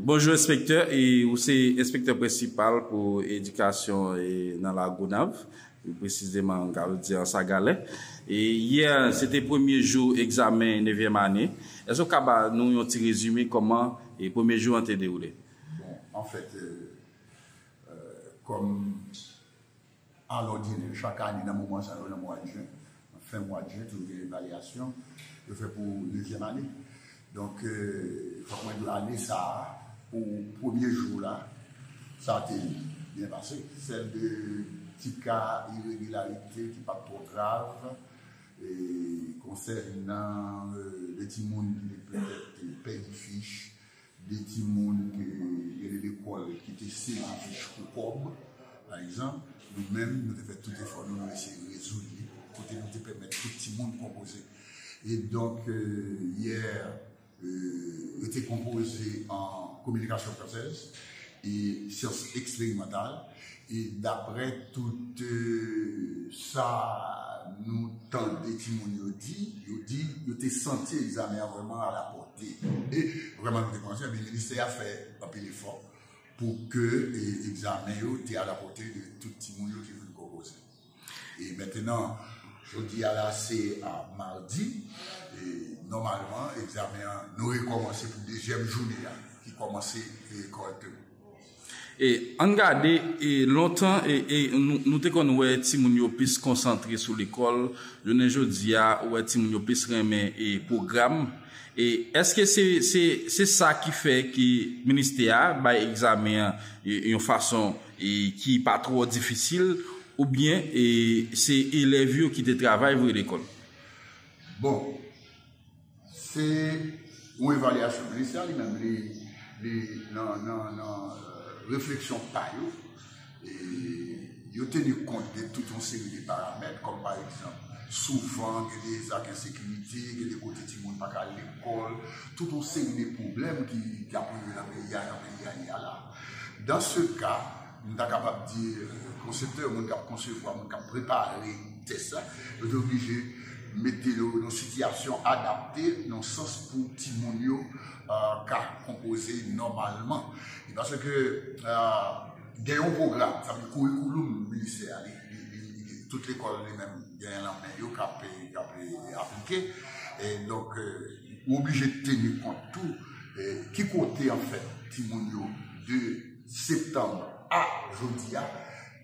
Bonjou enspektè, ou se enspektè prensipal pou edikasyon nan Lagonav, pi presizeman m kapab di Ansagalè. Yè se te premye jou egzamen nevyèm ane, èske ou ka ba nou yon ti rezime kòman premye jou an te dewoule? Bon, anfèt, kòm... Alòdinè, chak ane nan moman sa yo, nan mwa jen, nan fen mwa jen, toujou gen evalyasyon yo fè pou dezyèm ane. Donk, fòk mwen di w ane sa a, pou premye jou la, sa te byen pase. Sèl 2 ti ka iregilarite ki pa t twò grav konsènan 2 timoun ki te pèdi fich 2 timoun ke yo rele lekòl ki te sezi fich pou kòb, pa egzanp, nou menm nou te fè tout efò nou, nou eseye rezoud li, kote nou te pèmèt tout timoun konpoze. E donk, yè, yo te konpoze an kominikasyon fransèz e syans eksperimantal. E daprè tout sa nou tande timoun yo di, yo di yo te santi egzamen an vrèman alapòte. E vrèman nou te konsyan, ebyen ministè a fè anpil efò pou ke egzamen yo te alapòte de tout timoun yo ki vin konpoze. E mentenan, jodi a la se madi, e nòmalman egzamen an nou rekòmanse pou dezyèm joune a ki kòmanse veye kòrèkteman. E ann gade, e lontan e e nou te konn wè timoun yo plis konsantre sou lekòl, jounen jodi a ou wè timoun yo plis renmen e pwogram. E èske se se se sa ki fè ke ministè a bay egzamen an yon fason. ki pa twò difisil oubyen se elèv yo ki te travay vre lekòl? Bon, se yon evalyasyon minis la li menm li nan refleksyon pa yo, yo teni kont de tout yon seri de paramèt kòm pa egzanp, souvan gen de zak ensekirite, gen de kote timoun pa ka al lekòl, tout yon seri de pwoblèm ki ap rive nan peyi a jan peyi a ye a la. Dans ce ka, nou ta kapab di konseptè, moun k ap konsevwa, moun k ap prepare tès la, yo te oblije mete yo nan sitiyasyon adapte nan sans pou timoun yo ka konpoze nòmalman. E paske gen yon pwogram, sa vle di kourikouloum ministè a, tout lekòl li menm genyen l anmen yo k ap aplike. Ou oblije teni kont tou ki kote anfèt timoun yo de septanm a jodi a,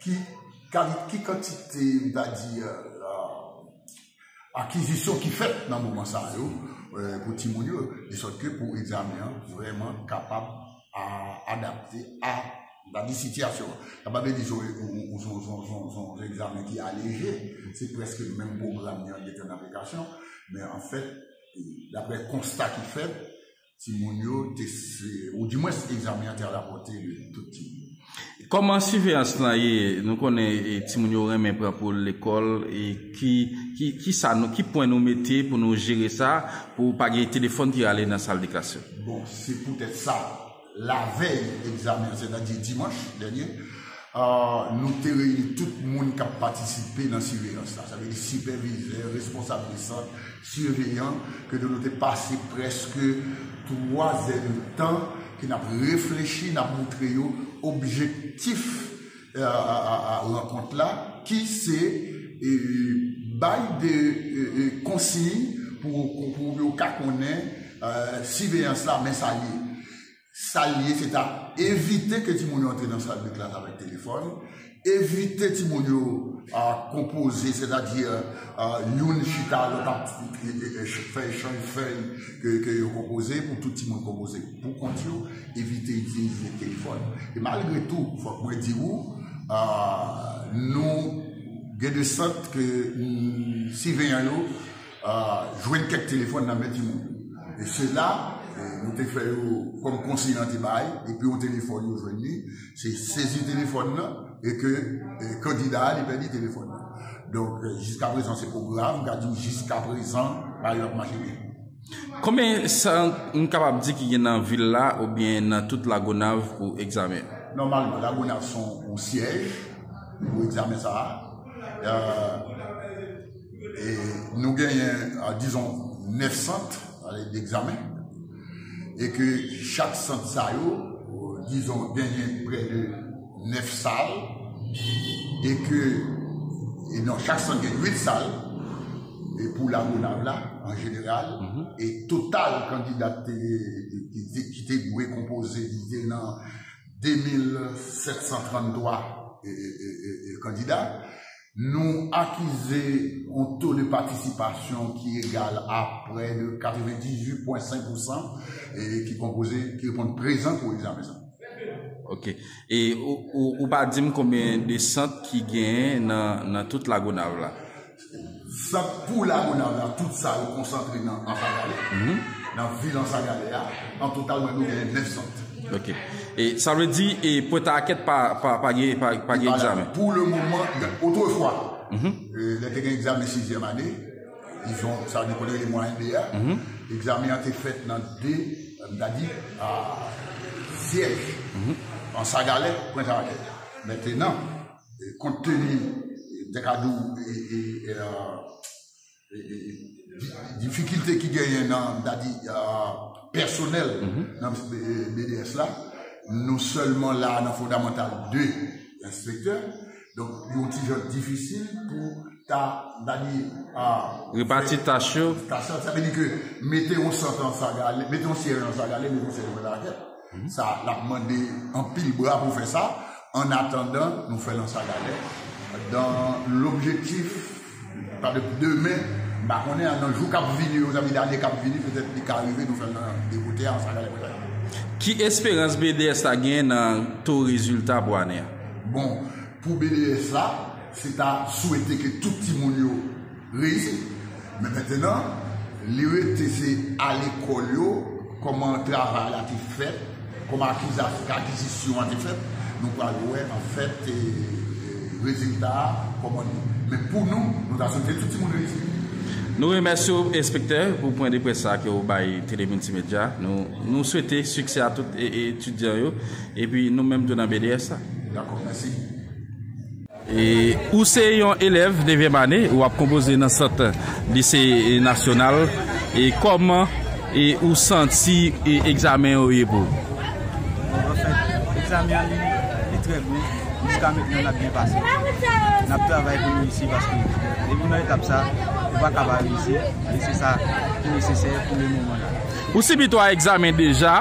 ki kali, ki kantite m ta di akizisyon ki fèt nan moman sa yo pou timoun yo, de sòt ke pou egzamen an vrèman kapab adapte a. M pa di sitiyasyon an. Sa pa vle di son yon egzamen ki aleje. Se prèske menm pwogram nan ki an aplikasyon. Men anfèt, daprè konsta ki fèt, timoun yo te, ou di mwens egzamen an te alapòte tout timoun. Kòman siveyans lan ye? Nou konnen timoun yo renmen pran pou yo lekòl. Ki pwen nou mete pou nou jere sa pou pa gen telefòn ki rale nan saldeklasyon? Bon, se poutèt sa. Lavèy egzamen an, sètadi dimanch dènye, nou te reyini tout moun k ap patisipe nan siveyans la, sa vle di sipèvizè, responsab de sant, siveyan, kote nou te pase prèske twa zèdtan ke n ap reflechi, n ap moutre yo objektif. rankont la ki se bay de konsiy pou yo ka konnen siveyans la men sa l ye. Sa l ye se ta evite ke timoun yo antre nan sal de klas avèk telefòn, evite timoun yo konpoze sètadi youn chita lòt ap fè echanj fèy ke yo konpoze pou tout timoun konpoze pou kont yo. Evite itilize telefòn. E malgre tou, fòk mwen di ou, nou gen de sòt ke siveyan yo jwenn kèk telefòn nan men timoun yo. E se la, nou te fè yo kòm konsiy lan te bay, depi yon telefòn yo jwenn li, se sezi telefòn nan e ke kandida a li pèdi telefòn nan. Donk, jiskaprezan se pwogram, m ka di w jiskaprezan bagay yo ap mache byen. Konbyen san nou kapab di ki gen nan vil la oubyen nan tout Lagonav pou egzamen? Nòmalman, Lagonav son yon syèj pou egzamen sa a. Nou genyen, dizon, 9 sant degzamen. E ke chak sant sa yo, dizon, genyen prè de. 9 sal e ke e non chak sant gen 8 sal e pou lagonav la an jeneral e total kandida te ki te dwe konpoze li te nan 2733 e kandida Nou akize yon to de patisipasyon ki egal a prè de 98 pwen 5 pousan ki konpoze, ki reponn prezan pou egzamen sa. Ok. E ou pa di m konbyen de sant ki genyen nan tout Lagonav la? Sant pou Lagonav la, tout sa yo konsantre nan Ansagalè, nan vil Ansagalè a. An total mwen dwe genyen 9 sant. Ok. E sa vle di e pwent a akèt pa pa gen pa pa gen egzamen? Pou le moman, otrefwa, lè te gen egzamen sizyèm ane, dizon, sa nou konn rele mwayenn 2 a, egzamen an te fèt nan 2, m ta di, syèj, an Sagalè, pwent a akèt. Mentenan, kont teni, m te ka di w, difikilte ki genyen nan dadi pèsonèl nan BDS la, nou sèlman la nan fondamantal 2 enspektè, donk yon ti jan difisil pou ta dadi repati tach yo, sa vle di ke mete yon sant nan Sagalè, mete yon syèj nan Sagalè, mete yon syèj nan Lanakèt. Sa l ap mande anpil bra pou fè sa, ann atandan nou fè l an sagadè, dan lobjektif petèt demen, m pa konnen an, nan jou k ap vini yo zanmi, dane k ap vini petèt li ka rive nou fè l nan de kote a an sagadè pou lane an. Ki esperans BDS la genyen nan to rezilta pou ane a? Bon, pou BDS la, se ta swete ke tout timoun yo. Reyi, men mentenan li rete se a lekòl yo kòman travay la te fèt, kòman akizisyon an te fèt, nou pral wè anfèt rezilta a kòman li ye. Men pou nou, nou ta swete tout timoun reyisi. Nou remèsye w enspektè pou pwen de près sa ke w bay Tele Multimedia. Nou swete siksè a tout etidyan yo epi nou menm tou nan BDS la. Dakò, mèsi. Ou se yon elèv devyèm ane, ou ap konpoze nan sant lise nasyonal, kòman ou santi egzamen yo ye pou ou? Bon anfèt, egzamen an li trè bon, jiska mentnan nap byen pase, nap travay pou nou reyisi paske depi nan etap sa, ou pa ka pa reyisi, e se sa ki nesesè pou le moman la. Ou sibi 3 egzamen deja,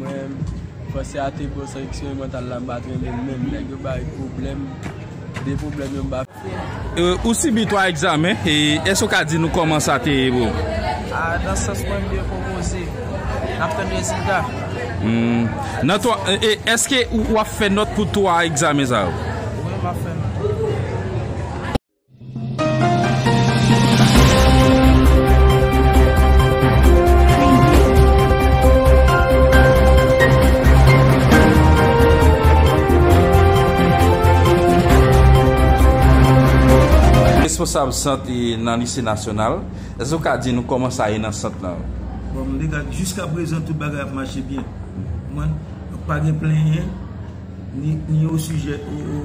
Mwen panse ate pran san eksperimantale la mpa t renmen menm nèg yo bay pwoblèm de pwoblèm yo mpa Ou sibi 3 egzamen e èske ou ka di nou kòman sa te ye pou ou? A nan sans mwen m byen konpoze nap tann rezilta. Humm nan 3 e èske ou ap fè nòt pou 3 egzamen sa yo? Wi map fè nòt. Responsab sant nan lise nasyonal, èske ou ka di nou kòman sa ye nan sant lan? Bon, jiska prezan tout bagay ap mache byen. Ou konprann? Donk pa gen plenyen. Ni o sijè o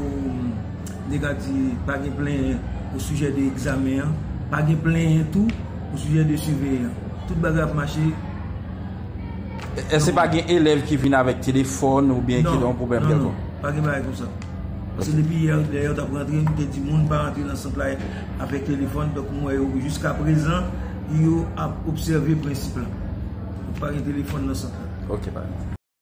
de ka di pa gen plenyen o sijè de egzamen an, pa gen plenyen tou o sijè de siveyan. Tout bagay ap mache nòmal. Èske pa gen elèv ki vin avèk telefòn oubyen ki gen yon pwoblèm kèlkonk? Non, non, pa gen bagay konsa. Paske depi yè lè yo t ap rantre, m te di moun pa rantre nan sant la avèk telefòn. Donk m wè yo jiska prezan, yo ap obsève prensip la. Pa gen telefòn nan sant la. Ok, pa gen.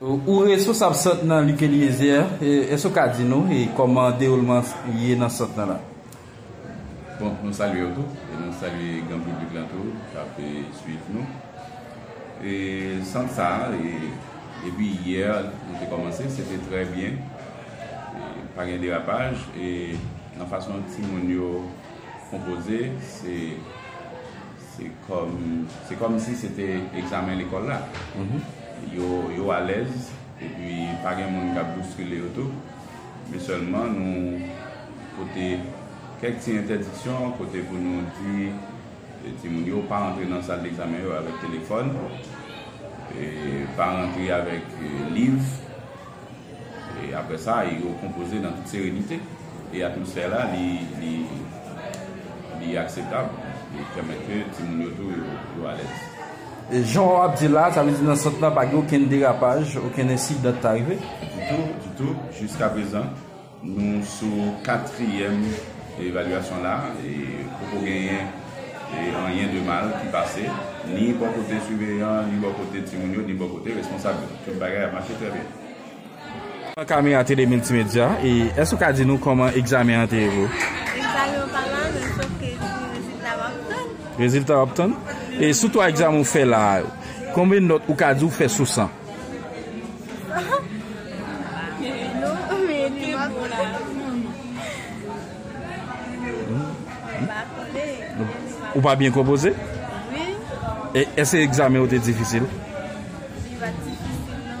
Ou resosab sant nan Luc Eliezer, èske ou ka di nou kòman dewoulman ye nan sant nan la? Bon, nou salye ou tou, e nou salye gran piblik lan tou k ap swiv nou. E sant sa a, depi yè nou te kòmanse, se te trè byen, pa gen derapaj, e nan fason timoun yo konpoze, se. Se kòm, se kòm si se te egzamen lekòl la. Yo, yo alèz, epi pa gen moun k ap bouskile yo tou. Men sèlman nou pote kèk ti entèdiksyon kote pou nou di timoun yo pa antre nan sal degzamen yo avèk telefòn, pa rantre avèk liv. E apre sa, yo konpoze nan tout serenite. E atmosfè la, li akseptab. Li pèmèt ke timoun yo tou, yo alèz. E jan w ap di la, sa vle di nan sant la pa gen okenn derapaj, okenn ensidan ki ta rive? Ditou, ditou, jiskaprezan. Nou sou katriyèm evalyasyon la e poko genyen anyen de mal ki pase ni bò kote siveyan an, ni bò kote timoun yo, ni bò kote responsab yo. Tout bagay ap mache trè byen. Kòman Kami a te de miltimedya e èske ou ka di nou kòman egzamen an te ye? Egzamen an pa mal menm sof ke li di rezilta w ap tann. Rezilta w ap tann? E sou 3 egzamen ou fè la a yo, konbyen nòt ou ka di ou fè sou 100? Ou pa byen konpoze? Wi. E eske egzamen ou te difisil? Li pa t difisil non.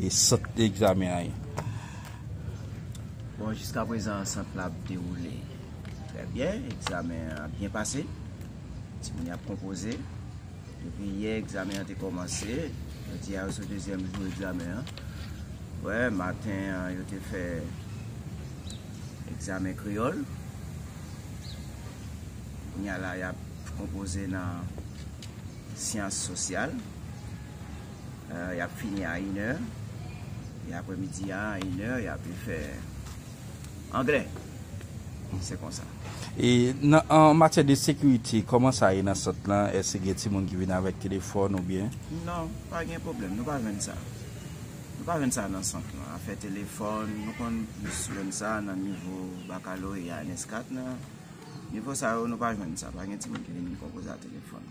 E sant egzamen an ye? Bon, jiska prezan sant la ap dewoule trè byen. Egzamen an ap byen pase. Timoun yo ap konpoze. Depi yè egzamen an te kòmanse. Jodi a yo sou dezyèm jou egzamen an. Wè, maten an yo te fè egzamen kreyòl. Kounye a la y ap konpoze nan syans sosyal. Y ap fini a inè. E apre midi a, a inè, y ape fè anglè. Se konsa. E nan an matyè de sekirite, kòman sa ye nan sant lan? Èske gen timoun ki vin avèk telefòn oubyen? Non, pa gen pwoblèm. Nou pa jwenn sa. Nou pa jwenn sa nan sant lan. Afè telefòn, nou konn plis jwenn sa nan nivo bakaloreya an ès 4 nan. Nivo sa yo, nou pa jwenn sa. Pa gen timoun ki vin konpoze a telefòn.